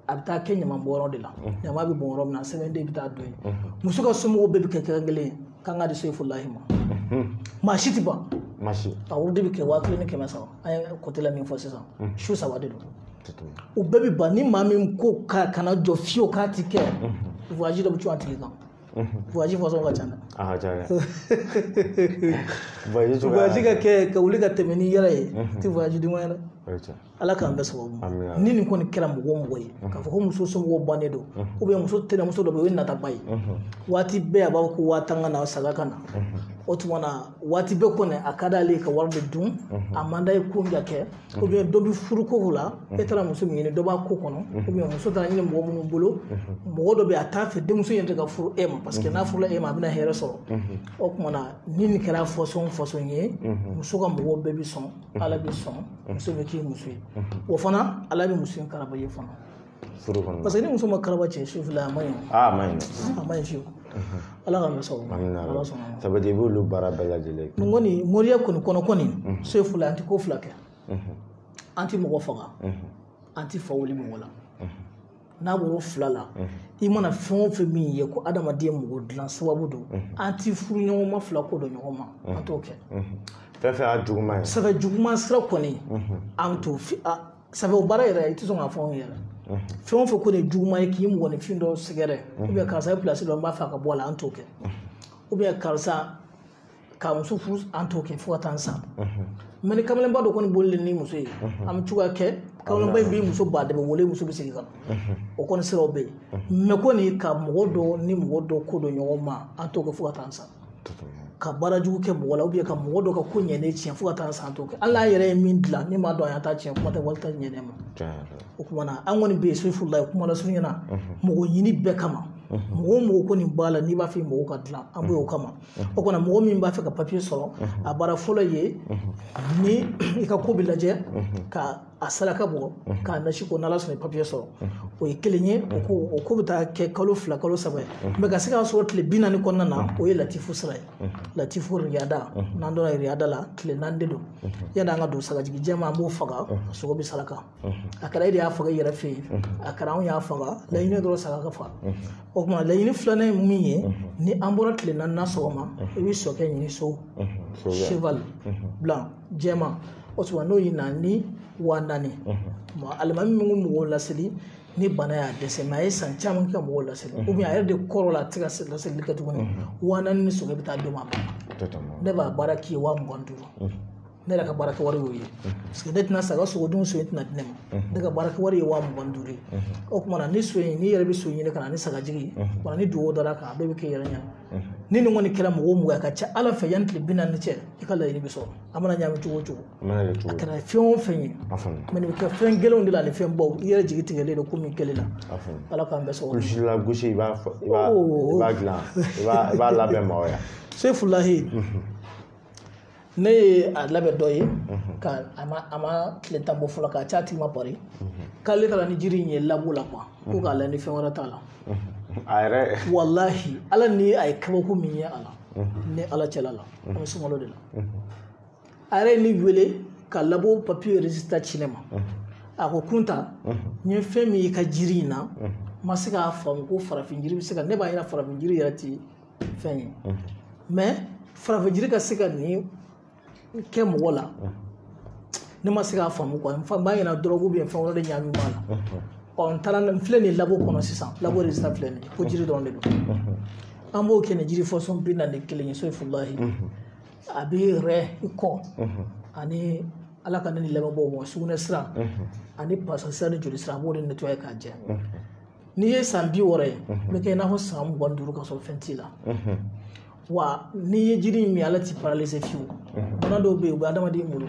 a bɛ taa kɛ ɲaman bɔn yɔrɔ de la ɲaman bɛ bɔn yɔrɔ min na sɛbɛn de bɛ taa don yen muso ka somɔgɔw bɛɛ bɛ kɛ kɛrɛn kelen ye k'an k'a di sefulahi ma maa si tɛ ban a woro de bɛ kɛ waa kelen ni kɛmɛ saba an ye côté la min fɔ sisan su saba de don u bɛɛ bɛ ban ni maa min ko k'a kana jɔ fiyewu k'a ti kɛ voyage dɔ bɛ cun a tigi kan voyage fɔsɔn ka ca dɛ a ka ca dɛ voyage ka kɛ ka wuli ka tɛmɛ n'i yɛrɛ ye ti voyage duman ye dɛ ala k'an bɛɛ sababu ni nin kɔni kɛra mɔgɔ o mɔgɔ ye k'a fɔ ko muso somɔgɔw bannen don ou bien muso tɛnɛmuso dɔ bɛ yen o ye nataba ye waati bɛɛ a b'a fɔ ko waa tan ka na saga ka na o tuma na waati bɛɛ kɔni a ka d'ale ka wari de dun a man d'a ye ko min ka kɛ ou bien dɔ bɛ furuko la e taara muso min ɲini dɔ b'a ko kɔnɔ ou bien muso taara ɲini mɔgɔ minnu bolo mɔgɔ dɔ bɛ a t'a fɛ denmuso in yɛrɛ ka furu e ma parce que n'a furula e ma a bɛna hɛrɛ sɔrɔ o tuma na ni nin kɛra fɔsɔn fɔsɔn ye muso ka mɔgɔw bɛɛ bɛ sɔn ala bɛ sɔn muso bɛ k'i muso ye o fana ala bɛ muso in karaba ye fana furu kɔnɔ parce que ni muso ma karaba cɛ soyifula a man ɲi a man ɲi a man ɲi fiyewu ala ka masa ala sɔnna sabu i b'olu baara bɛɛ lajɛlen n kɔni moriya kɔni kɔnɔ kɔni soyifula an tɛ ko fila kɛ an tɛ mɔgɔ faga an tɛ fa wuli mɔgɔ la n'a bɔr'o fila la i mana fɛn o fɛn min ye ko adamaden mɔgɔ dilan sababu don an ti furuɲɔgɔnma fila kɔ don ɲɔgɔn ma an t'o kɛ fɛn fɛn y'a juguman ye sɛbɛn juguman sira kɔni an t'o fi a sɛbɛn o baara yɛrɛ i tɛ sɔn k'a fɔ anw yɛrɛ fɛn o fɛn ko de juguman ye k'i mɔgɔninfin dɔ sɛgɛrɛ ou bien karisa ye pilasi dɔ n b'a fɛ a ka bɔ a la an t'o kɛ ou bien karisa ka muso furu an t'o kɛ fo ka taa n sa mais ni kamalenba dɔ kɔni bolilen ni muso ye an bɛ cogoya kɛ kamalenba in b'i muso ba dɛmɛ wele muso bɛ segin ka na o kɔni siraw bɛ yen mais kɔni ka mɔgɔ dɔ ni mɔgɔ dɔ kɔ don ɲɔgɔn ma an t'o kɛ fo ka taa n sa ka baara jugu kɛ mɔgɔ la ou bien ka mɔgɔ dɔ ka ko ɲɛnen tiɲɛ fo ka taa n sa an t'o kɛ hali n'an yɛrɛ ye min dilan ne m'a dɔn a y'a ta tiɲɛ kuma tɛ wali ta ɲɛnen ma o tuma na an kɔni bɛ yen soyifulahi kuma lasurunya na mɔgɔninfin bɛɛ kama mɔgɔ o mɔgɔ kɔni b'a la n'i b'a fɛ mɔgɔw ka dilan an bɛ o kama o kɔnɔ mɔgɔ min b'a fɛ ka papiye sɔrɔ a baara fɔlɔ ye ni i ka ko bɛ lajɛ ka a saraka bɔ k'a nasi ko n'ala sɔnna papiye sɔrɔ o ye kelen ye o ko o ko bɛ taa kɛ kalo fila kalo saba ye mais ka se k'a sɔrɔ tile bi naani kɔnɔna na o ye latifu sira ye latifu riyada n'an donna riyada la tile naani de don yanni an ka don sagajigi jɛma an b'o faga sogo bɛ saraka a kɛra e de y'a faga i yɛrɛ fɛ yen a kɛra anw y'a faga laɲini dɔrɔn saga ka faga o tuma laɲini filanan ye min ye ni an bɔra tile naaninan sɔgɔma i bɛ sokɛ ɲini so cheval blanc jɛma o tuma n'o ye na ni wa naani alimami min ko mɔgɔw laseli ni bana y'a dɛsɛ mɛ a ye san caman kɛ mɔgɔw laseli ou bien a yɛrɛ de kɔrɔla a tɛ se ka laseli kɛ tuguni wa naani ni sokɛ bɛ taa d'o ma ne b'a baara k'i ye wa mugan duuru ne yɛrɛ ka baarakɛ wari y'o ye paseke ne tɛna saga sogo dun so in tɛna di ne ma ne ka baarakɛ wari ye wa mugan duuru ye o tuma na ni so in n'i yɛrɛ bɛ so ɲini ka na ni sagajigi wa ni dugawu dara a kan a bɛɛ bɛ kɛ i yɛrɛ ɲɛna ni nin kɔni kɛra mɔgɔ o mɔgɔ ye a ka ca ala fɛ yanni tile bi naani cɛ i ka laɲini bɛ sɔrɔ a mana ɲagami cogo o cogo a kɛra fɛn o fɛn ye mɛ nin bɛ kɛ fɛn gɛlɛnw de la ani fɛn baw i yɛrɛ jigi tigɛlen don ko min kɛlen na ala k'an bɛɛ sɔrɔ gosi la gosi i b'a fɔ i b'a dilan i b'a labɛn maaw ya seyifulahi ne ye a labɛn dɔ ye mhm. ka a ma a ma tile tan bɔ fɔlɔ k'a c'a tigi ma pari mhm. k'ale taara ni jiri in ye labo la kuwa ko mhm. k'a lajɛ ni fɛn wɛrɛ t'a la a yɛrɛ walahi ala ni a ye kabako min ye a la ni ala cɛla la an bɛ sunkalo de la a yɛrɛ ye ne wele ka labo papiye rezilita ci ne ma a ko kunta n ye fɛn min y'i ka jiri in na n ma se k'a faamu ko farafin jiri bɛ se ka ne b'a ɲɛna farafin jiri yɛrɛ tɛ fɛn ye mɛ farafin jiri ka se ka nin kɛ mɔgɔ la ne ma se k'a faamu kuwa n b'a ɲɛna dɔrɔgu ou bien fɛn wɛrɛ de ɲagami b'a la ɔ n taara n filɛ nin labo kɔnɔ sisan labo rezilita filɛ nin ko jiri dɔrɔn de don an b'o kɛ ni jiri fasɔn bi naani ni kelen ye seyifulahi a bɛ rɛn ko ani ala ka ne ni lamɛnbaaw mɔgɔ sugunɛ sira ani pasa sira ni joli sira a b'o de netuwaye k'a jɛ n'i ye san bi wɔɔrɔ ye n bɛ kɛ i n'a fɔ san mugan duuru ka sɔrɔ fɛn t'i la wa n'i ye jiri in min ala t'i paralize fiyewu bana dɔw bɛ yen u bɛ adamaden bolo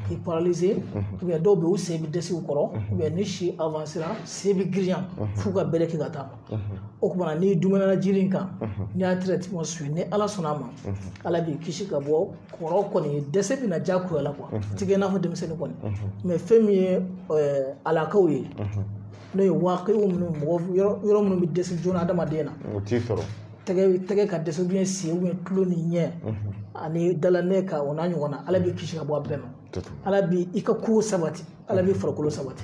k'i paralize ou bien dɔw bɛ yen u sen bɛ dɛsɛ u kɔrɔ ou bien ni si avansera sen bɛ girinya f'u ka bere kɛ ka taa o tuma na n'i duumɛna jiri in kan n'i y'a tɛrɛtiman suwivi ni ala sɔnna a ma ala b'i kisi ka bɔ kɔrɔ kɔni dɛsɛ bɛ na jagoya la kuwa i tɛ kɛ i n'a fɔ denmisɛnnin kɔni mɛ fɛn min ye alakaw ye n'o ye waakɛ minnu mɔgɔ yɔrɔ minnu bɛ dɛsɛ joona adamaden na o t'i sɔrɔ tɛgɛ ka dɛsɛ ou bien sen ou bien tulo ni ɲɛ ani dilannako o n'a ɲɔgɔnna ala b'i kisi ka bɔ a bɛɛ ma ala b'i ka ko sabati ala b'i farikolo sabati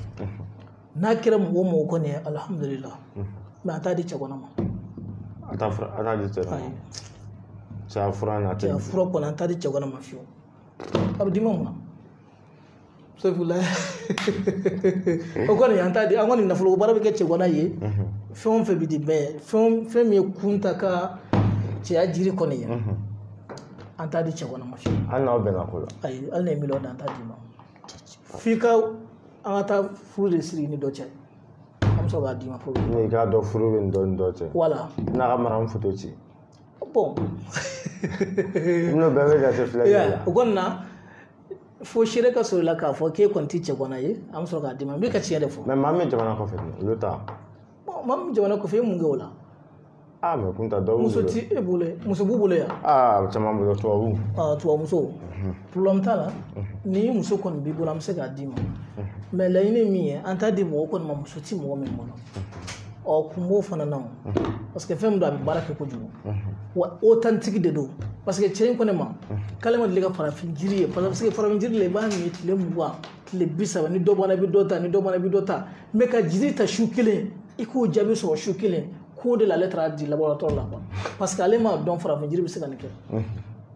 n'a kɛra mɔgɔ mɔgɔ kɔni ye alihamudulila mɛ an t'a di cɛganan ma a t'a fura an t'a di cɛganan cɛ fura n'a tɛ fura kɔni an t'a di cɛganan ma fiyewu a bɛ d'i ma mun na sabula o kɔni an t'a di an kɔni nafolo baara bɛ kɛ cɛganan ye fɛn o fɛn bɛ di mais fɛn min ye kunta ka cɛya jiri kɔni ye an t'a di cɛganan ma fiyewu hali n'aw bɛnna ko la ayi hali n'e ye miliyɔn di an t'a d'i ma f'i ka an ka taa furu de siri i ni dɔ cɛ an bɛ sɔrɔ k'a d'i ma fɔlɔ n'i k'a dɔn furu bɛ nin dɔ ni dɔ cɛ wala n'a ka mara n foto ci bon n'o bɛɛ bɛ jate filɛ i y'a ye o kɔni na fo seere ka sɔrɔ i la k'a fɔ k'e kɔni tɛ cɛganan ye an bɛ sɔrɔ k'a d'i ma n bɛ ka tiɲɛ de fɔ. mais maa min jamana kɔfɛ olu ta. maa min jamana kɔfɛ e mun kɛ o la. aa mais kunta dɔw muso t'i bolo muso b'u bolo yan. aa caman bolo tubabu. aa tubabu muso. problème t'a la ni muso kɔni b'i bolo an bɛ se k'a d'i ma mais laɲini min ye an t'a di mɔgɔ kɔni ma muso ti mɔgɔ min bolo. ɔ kun b'o fana na parce que fɛn min don a bɛ baara kɛ kojugu wa authentique de don parce que cɛ in ko ne ma k'ale ma deli ka farafin jiri ye parce que farafin jiri la i b'a min tile mugan tile bi saba ni dɔ bɔra i bɛ dɔ ta ni dɔ bɔra i bɛ dɔ ta mais ka jiri ta su kelen i k'o jaabi sɔrɔ su kelen k'o de la ale taara a di laboratoire la quoi parce que ale m'a dɔn farafin jiri bɛ se ka nin kɛ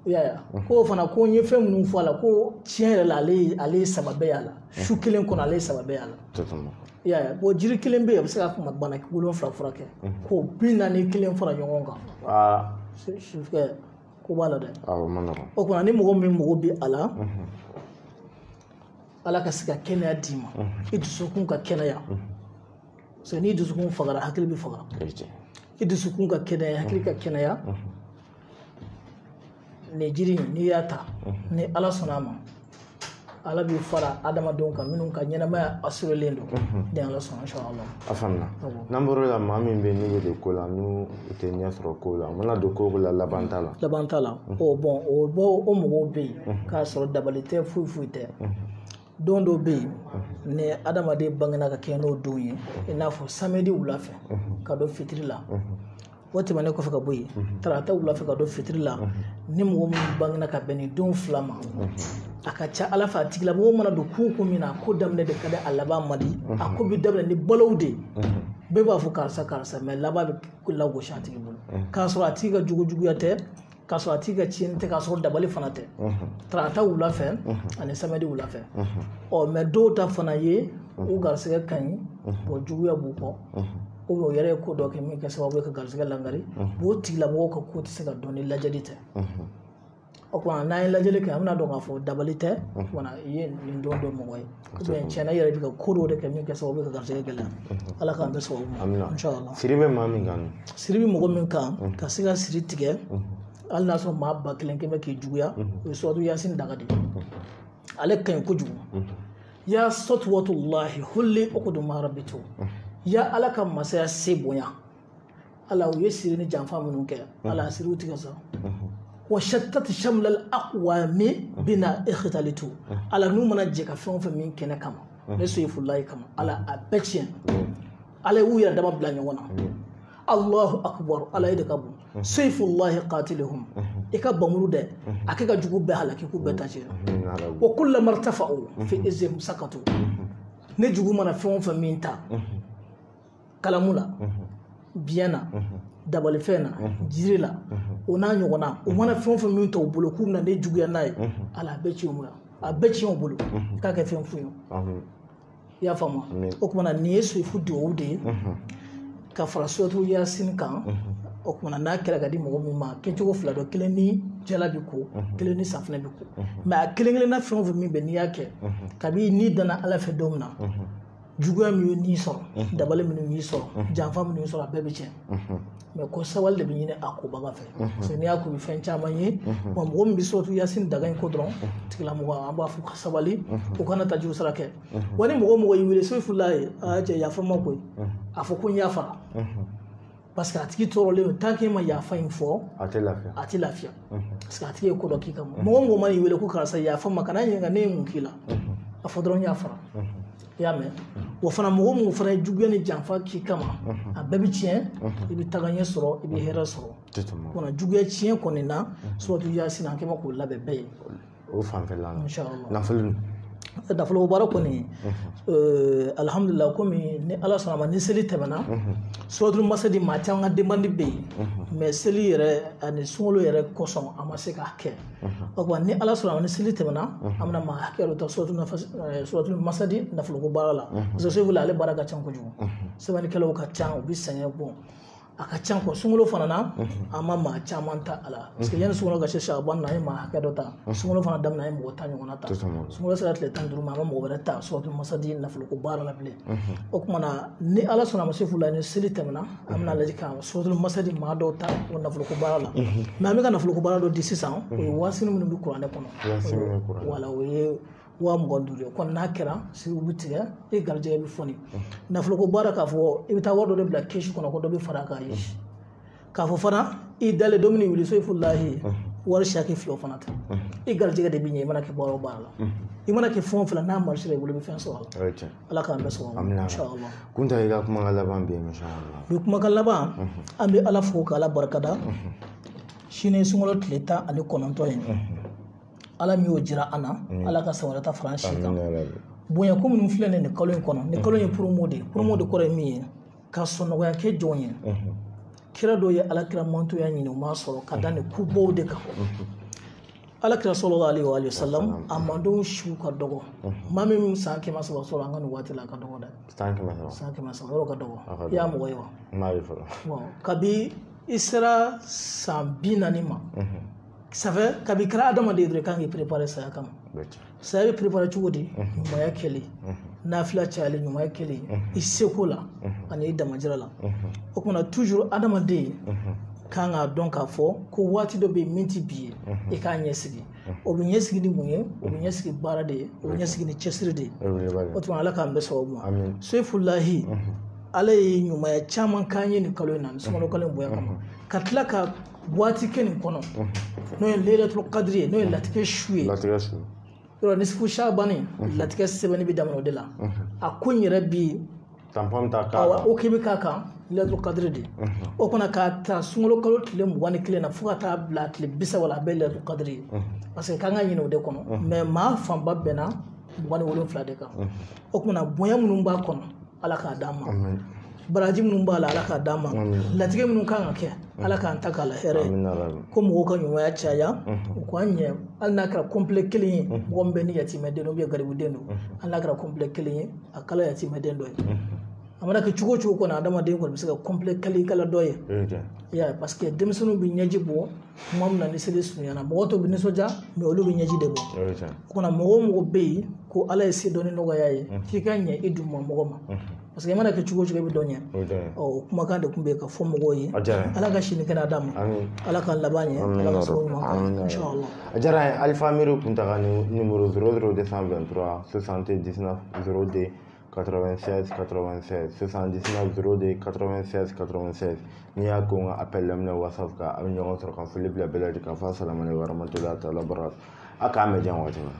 i y'a ye k'o fana ko n ye fɛn minnu fɔ a la ko tiɲɛ yɛrɛ la ale ye ale ye sababu y'a la su kelen kɔnɔ ale ye sababu y'a la i y'a ye bon jiri kelen bɛ yen a bɛ se ka kuma bana wolonwula furakɛ k'o bi naani kelen fara ɲɔgɔn kan aa sufɛko b'a la dɛ awɔ ma nɔgɔn o kama na ni mɔgɔ min mago bɛ a la ala ka se ka kɛnɛya d'i ma i dusukun ka kɛnɛya parce que n'i dusukun fagara hakili bɛ faga o ye tiɲɛ i dusukun ka kɛnɛya hakili ka kɛnɛya nin jiri in n'i y'a ta ni ala sɔnna a ma ala b'i fara adamadenw kan minnu ka ɲɛnamaya assurélen don ni ala sɔnna inshallah a faamuya n'an bɔr'o la maa min bɛ n'u bɛ don ko la u tɛ ɲɛ sɔrɔ ko la u mana don ko o ko la laban t'a la laban t'a la o bon o bɔ o mɔgɔw bɛ yen k'a sɔrɔ dabali tɛ foyi foyi tɛ don dɔw bɛ yen ni adamaden bangena ka kɛ n'o don ye i n'a fɔ samedi wula fɛ ka don fitiri la o tɛmɛnen kɔfɛ ka bɔ yen tarata wula fɛ ka don fitiri la ni mɔgɔ min bangena ka bɛn nin don fila ma a ka ca ala fɛ a tigilamɔgɔ mana don ko ko min na ko daminɛ de ka di a laban man di a ko bɛ daminɛ ni balow de ye bɛɛ b'a fɔ karisa karisa mais laban bɛ lagosi a tigi bolo k'a sɔrɔ a tigi ka juguya tɛ k'a sɔrɔ a tigi ka tiɲɛni tɛ k'a sɔrɔ dabali fana tɛ tarata wula fɛ ani samedi wula fɛ ɔ mais dɔw ta fana ye u garisɛgɛ ka ɲi bon juguya b'u kɔ o o yɛrɛ ye ko dɔ kɛ min kɛ sababu ye ka garisɛgɛ langari o tigilamɔgɔw ka ko tɛ se ka dɔn ni lajɛli tɛ o kama na n'an ye lajɛli kɛ an bɛna dɔn k'a fɔ dabali tɛ wala i ye nin don dɔ mɔgɔ ye tiɲɛna i yɛrɛ bɛ ka ko dɔw de kɛ min kɛ sababu ye ka garisɛgɛ gɛlɛya ala k'an bɛn sababu ma siri bɛ maa min kan siri bɛ mɔgɔ min kan ka se ka siri tigɛ hali n'a sɔrɔ maa ba kelen kɛmɛ k'i juguya o ye suratu yasin daga de ale ka ɲi kojugu ya satwatullahi hulli uqdu ma rabitu ya ala ka masaya se bonya ala u ye siri ni janfa minnu kɛ ala siriw tigɛ sa wa shattat shamla al aqwami bina ikhtalitu ala n'u mana jɛ ka fɛn o fɛn min kɛ ne kama ne soyifulayi kama ala a bɛɛ tiɲɛ ala y'u yɛrɛ dama bila ɲɔgɔn na allahu akbar ala e de ka bon seyfullahi qatiluhum i ka panmuru de a kɛ ka jugu bɛɛ halaki k'u bɛɛ ta tiɲɛ wa kullama irtafa'u fi izzihim sakatu ne jugu mana fɛn o fɛn min ta kalamu la biyɛn na dabalifɛn na jiri la o n'a ɲɔgɔnna u mana fɛn o fɛn min ta u bolo k'u bɛna ne juguya n'a ye ala a bɛɛ ci u ma a bɛɛ ci u bolo k'a kɛ fɛn fu ye i y'a faamu o kumana nin ye soyifu duwawu de ye ka fara suratu yasin kan o kumana n'a kɛra ka di mɔgɔ min ma kɛcogo fila don kelen ni jala b'i ko kelen ni safinɛ b'i ko mɛ a kelen kelenna fɛn o fɛn min bɛ n'i y'a kɛ kabi n'i danna ala fɛ don min na juguya min ye n'i sɔrɔ mhm. dabali minnu y'i sɔrɔ mhm. janfa minnu y'i sɔrɔ a bɛɛ bɛ tiɲɛ mhm. mɛ ko sabali de bɛ ɲini a kobaga fɛ parce que n'i y'a ko i bɛ fɛn caman ye wa mɔgɔ min bɛ suratu yasin daga in ko dɔrɔn tigilamɔgɔ an b'a fɔ ka sabali u kana ta juru sara kɛ wa ni mɔgɔ mɔgɔ y'i wele soyifulayi aa cɛ yafa ma koyi a fɔ ko n yafara parce que a tigi tɔɔrɔlen don tant que ma yafa in fɔ a tɛ lafiya a tɛ lafiya parce que a tigi ye ko dɔ k'i kama mɔgɔ mɔgɔ man'i wele ko karisa yafa ma kana ɲininka ne ye mun k'i la a fɔ dɔrɔn n yafara i y'a mɛn wa fana mɔgɔ minnu fana ye juguya ni janfa k'i kama a bɛɛ bɛ tiɲɛ i bɛ tagaɲɛ sɔrɔ i bɛ hɛrɛ sɔrɔ kɔnɔ juguya tiɲɛ kɔni na suratu yasin an kɛ bɛ k'o labɛn bɛɛ ye o fanfɛla la nafolo nafoloko baara kɔni alihamudulila kɔmi ni ala sɔnna ma ni seli tɛmɛna suratul masadi maa caman ka demande bɛ yen mɛ seli yɛrɛ ani sunkalo yɛrɛ kosɔn a ma se k'a kɛ o kuma ni ala sɔnna ma ni seli tɛmɛna an bɛna maa hakɛ dɔ ta suratul masadi nafoloko baara la parce que segu ale baara ka ca kojugu sɛbɛnnikɛlaw ka ca u bɛ sɛgɛn bon a ka ca kɔ sunkalo fana na an ma maa caman ta a la parce que yanni sunkalo ka se saban na an ye maa hakɛ dɔ ta sunkalo fana daminɛ an ye mɔgɔ tan ɲɔgɔnna ta sunkalo sera tile tan ni duuru ma an ma mɔgɔ wɛrɛ ta suratul masadi nafoloko baara la bilen o tuma na ni ala sɔnna ma soyifula ni seli tɛmɛna an bɛna lajɛ ka suratul masadi maa dɔw ta o nafoloko baara la mɛ an bɛ ka nafoloko baara dɔ di sisan o ye waasini minnu bɛ kuranɛ kɔnɔ wala o ye waa mugan ni duuru ye kɔni n'a kɛra siri bɛ tigɛ i garijɛgɛ bɛ foni nafoloko baara k'a fɔ i bɛ taa wari dɔ de bila kɛsi kɔnɔ ko dɔ bɛ fara k'a ye k'a fɔ fana i dalen don min wuli soyifulahi wari siyaki fila fana ta i garijɛgɛ de bɛ ɲɛ i mana kɛ baara o baara la i mana kɛ fɛn o fɛn n'a marché la i bolo i bɛ fɛn sɔrɔ a la ala k'an bɛɛ sɔrɔ inshallah kunta i ka kumakan laban bɛ yen inshallah bi kumakan laban an bɛ ala fo k'ala barikada sini sunkalo tile tan ani kɔnɔntɔn ye ala min y'o jira an na ala ka san wɛrɛ ta fara an si kan bonya ko minnu filɛ nin kalo in kɔnɔ nin kalo in ye promo de ye promo de kɔrɔ ye min ye ka sɔnnɔgɔya kɛ jɔnw ye kira dɔw ye ala kira mantonya ɲini u m'a sɔrɔ ka da nin kubaw de kan ala kira sallallahu alayhi wa salam a mandenw siw ka dɔgɔ maa min bɛ san kɛmɛ saba sɔrɔ an ka nin waati la a ka dɔgɔ dɛ san kɛmɛ saba san kɛmɛ saba yɔrɔ ka dɔgɔ i y'a mɔgɔ ye wa n'a ye fɔlɔ kabi i sera san bi naani ma safɛ kabi i kɛra adamaden dɔrɔn i kan k'i préparer saya kama saya bɛ préparer cogo di ɲumanya kɛlen nafila cayalen ɲumanya kɛlen i seko la ani i damajira la o kuma na toujours adamaden kan k'a dɔn k'a fɔ ko waati dɔ bɛ yen min tɛ bi ye i k'a ɲɛsigi o bɛ ɲɛsigi ni mun ye o bɛ ɲɛsigi baara de ye o bɛ ɲɛsigi ni cɛsiri de ye o tuma ala k'an bɛn sababu ma sefulahi ala ye ɲumanya caman k'an ye nin kalo in na nin sunkalo kalo in bonya kama ka tila ka waati kɛ nin kɔnɔ n'o ye leyilatoul kadiri ye n'o ye latigɛ su ye latigɛ su yɔrɔ nisifu sabani latigɛ sɛbɛnni bɛ daminɛ o de la a ko in yɛrɛ bi tanpɔn ta k'a kan o k'i bɛ k'a kan leyilatoul kadiri de o kɔnɔ k'a ta sunkalo kalo tile mugan ni kelen na fo ka taa bila tile bi saba la a bɛɛ leyilatoul kadiri ye parce que k'an k'a ɲini o de kɔnɔ mais maa fanba bɛnna mugan ni wolonwula de kan o tuma na bonya minnu b'a kɔnɔ ala k'a d'an ma baraji minnu b'a la ala k'a d'an ma latigɛ minnu kan ka kɛ ala k'an ta k'a la hɛrɛ ko mɔgɔw ka ɲumanya caya u k'an ɲɛ hali n'a kɛra complet kelen ye mɔgɔ min bɛ ni yatimɛden don ou bien garibuden don hali n'a kɛra complet kelen ye a kala yatimɛden dɔ ye a mana kɛ cogo o cogo kɔnɔ adamaden kɔni bɛ se ka complet kelen kala dɔ ye parce que denmisɛnninw bɛ ɲɛji bɔ kuma min na ni seli surunyana mɔgɔ tɔw bɛ nisɔndiya mais olu bɛ ɲɛji de bɔ o kuma na mɔgɔ o mɔgɔ bɛ yen ko ala ye se dɔɔnin nɔgɔya i ye k'i ka ɲɛ i duguma mɔgɔ ma parce que i mana kɛ cogo o cogo i bɛ dɔ ɲɛ o kumakan de tun bɛ yen ka fɔ mɔgɔw ye ala ka sini kɛnɛ d'an ma ala ka laban ɲɛ ala ka sababu ɲuman a diyara an ye alifa miiri kunta ka nimoro zéro zéro deux cent vingt-trois soixante-dix-neuf zéro deux 96 96 79 02 96 96 n'i y'a ko n ka appel laminɛ whatsapp kan an bɛ ɲɔgɔn sɔrɔ ka foli bila bɛɛ lajɛlen k'a fɔ assalamu alaikum warahmatullahi ta'ala barakatuh a k'an bɛn jan waati min na